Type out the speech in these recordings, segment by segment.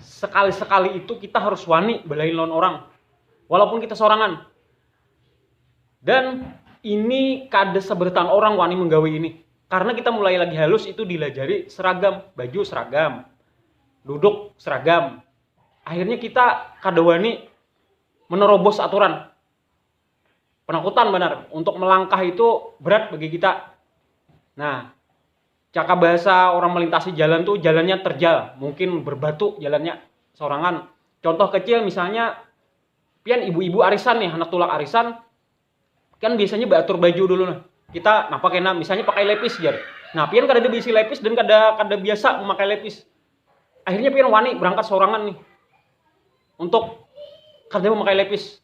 sekali-sekali itu kita harus wani belain lawan orang walaupun kita sorangan dan ini kada seberatan orang wani menggawi ini karena kita mulai lagi halus itu dilajari seragam baju seragam duduk seragam akhirnya kita kada wani menerobos aturan penakutan benar untuk melangkah itu berat bagi kita nah Caka bahasa orang melintasi jalan tuh jalannya terjal, mungkin berbatu jalannya sorangan. Contoh kecil misalnya pian ibu-ibu arisan nih, anak tulak arisan kan biasanya baatur baju dulu nah. Kita napa kena misalnya pakai lepis jar. Nah, pian kada ada bisi lepis dan kada kada biasa memakai lepis. Akhirnya pian wani berangkat sorangan nih untuk kada memakai lepis.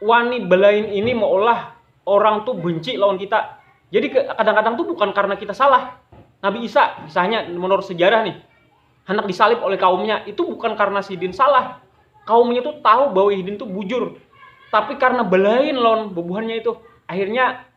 wani belain ini meulah orang tu benci lawan kita. Jadi kadang-kadang tu bukan karena kita salah. Nabi Isa, kisahnya menurut sejarah nih, hendak disalib oleh kaumnya, itu bukan karena sidin salah. Kaumnya tuh tahu bahwa sidin tuh bujur. Tapi karena belain lawan bubuhannya itu, akhirnya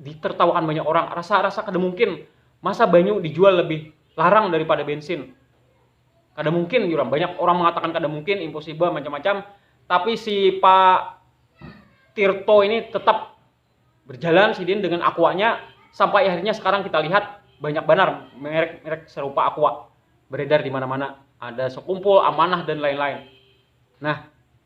ditertawakan banyak orang rasa rasa kada mungkin masa banyu dijual lebih larang daripada bensin kada mungkin jurang banyak orang mengatakan kada mungkin impossible macam-macam tapi si Pak Tirto ini tetap berjalan sidin dengan aquanya sampai akhirnya sekarang kita lihat banyak banar merek-merek serupa aqua beredar di mana-mana ada sekumpul amanah dan lain-lain nah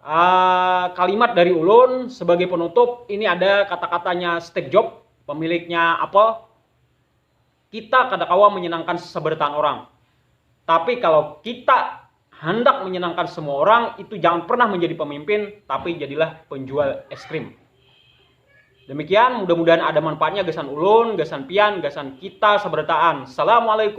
Uh, kalimat dari ulun sebagai penutup ini ada kata-katanya Steve Jobs, pemiliknya Apple. Kita kada kawa menyenangkan sebertaan orang. Tapi kalau kita hendak menyenangkan semua orang, itu jangan pernah menjadi pemimpin, tapi jadilah penjual es krim. Demikian, mudah-mudahan ada manfaatnya gasan ulun, gasan pian, gasan kita sebertaan. Assalamualaikum.